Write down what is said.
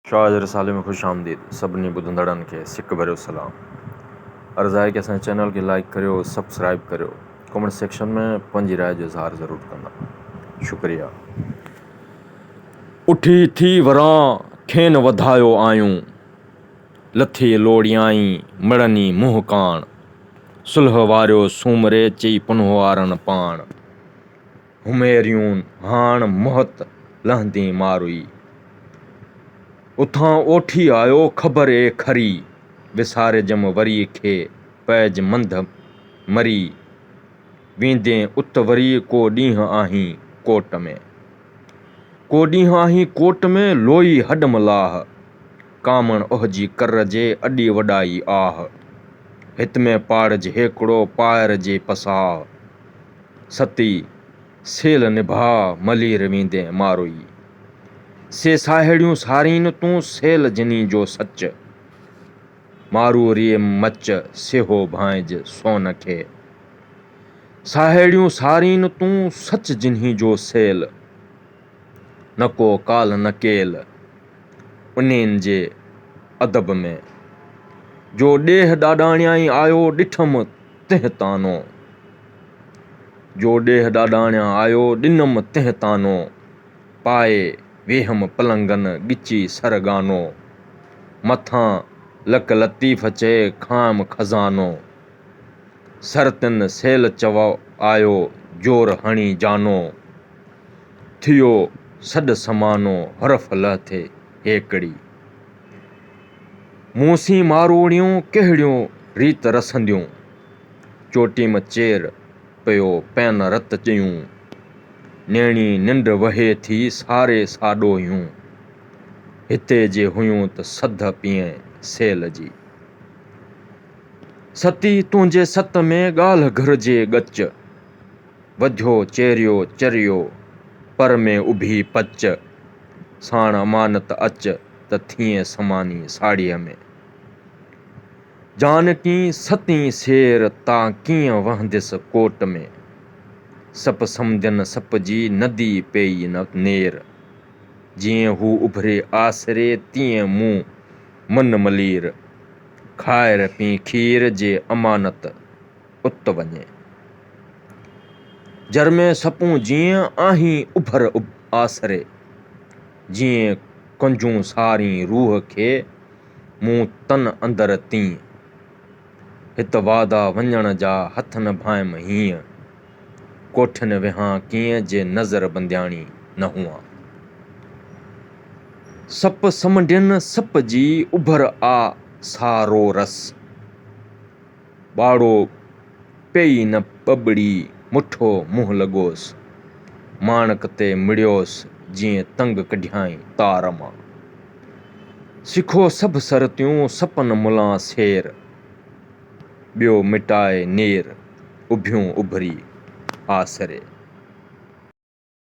شاهه جي رسالي ۾ خوش آمديد سڀني ٻڌندڙن کي سڪ ڀريو سلام عرض آهي ڪي اسان جي چينل کي لائيڪ ڪريو سبسڪرائيب ڪريو ڪمينٽ سيڪشن ۾ پنهنجي راء جو اظهار ضرور ڪندا شڪريا. اٺي ٿي وران کين وڌايو آيون لٿي لوڙيائين مڙني منهن ڪاڻ صلح واريو سومري چئي پنهوارن پاڻ. هميريون هاڻ مهت لهندين ماروئي. اتان اوٺي آيو خبر اي کري، وسارجم وري کي پئج منڌ مري، ويندين ات وري ڪو ڏينهن آهين ڪوٽ ۾. ڪو ڏينهن آهين ڪوٽ ۾، لوئي هڏم لاهه، ڪامڻ اهجي ڪر جي اڏي وڏائي آهه، هت ۾ پاڙج هيڪڙو پائر جي پساهه. ستي، سيل نڀاء ملير ويندين ماروئي، سي ساهيڙيون سارين تون سيل جني جو سچ، مارو ريء مچ سيهو ڀانئج سون کي، ساهيڙيون سارين تون سچ جني جو سيل. نه ڪو ڪالهه نه ڪيل انهين جي ادب ۾. جو ڏيهه ڏاڏاڻيائين آيو ڏٺم تنهن طعنو. جو ڏيهه ڏاڏاڻيان آيو ڏنم تنهن طعنو. پائي ويهم پلنگن ڳچي سر ڳانو. مٿان لڪ لطيف چئي کانئم خزانو. سر تن سيل چوء آيو زور هڻي جانو. ٿيو سڏ سمانو حرف لئه ٿئي هيڪڙي. مون سين ماروئڙيون ڪهڙيون ريت رسنديون. چوٽيم چير پيو پين رت چيون. نيڻي ننڊ وهي ٿي ساري ساڏوهيون. هتي جي هيون ته سڌ پيئين سيل جي. ستي تنهنجي ست ۾ ڳالهه گهرجي ڳچ. وجهو چيريو چريو، پر ۾ اڀي پچ، ساڻ امانت اچ، ته ٿئين سماني ساڙهيء ۾. جانڪين ستين سير، تا ڪيئن وهنديس ڪوٽ ۾. سپ سمندين سپ جي، ندي پيئي نه نير. جيئن هو اڀري آسري، تيئن مون من ملير. کائر پين کير، جي امانت. ات وڃي. جر ۾ سپون جيئن آهين اڀر آسري، جيئن ڪنجون سارين روح کي، مون تن اندر تيئن. هت وادا وڃڻ جا هٿ نه ڀانئم هينئن، ڪوٺين ويهان ڪيئن جي نظر بندياڻي نه هئان. سپ سمنڊين سپ جي اڀر آ سا رو رس. ٻاڙو پيئي نه ٻٻڙي مٺو منهن لڳوس. ماڻڪ تي مڙيوس جيئن تنگ ڪڍيائين تار مان. سکو سڀ سرتيون سپن ملان سير. ٻيو مٽائي نير اڀيون اڀري آسري.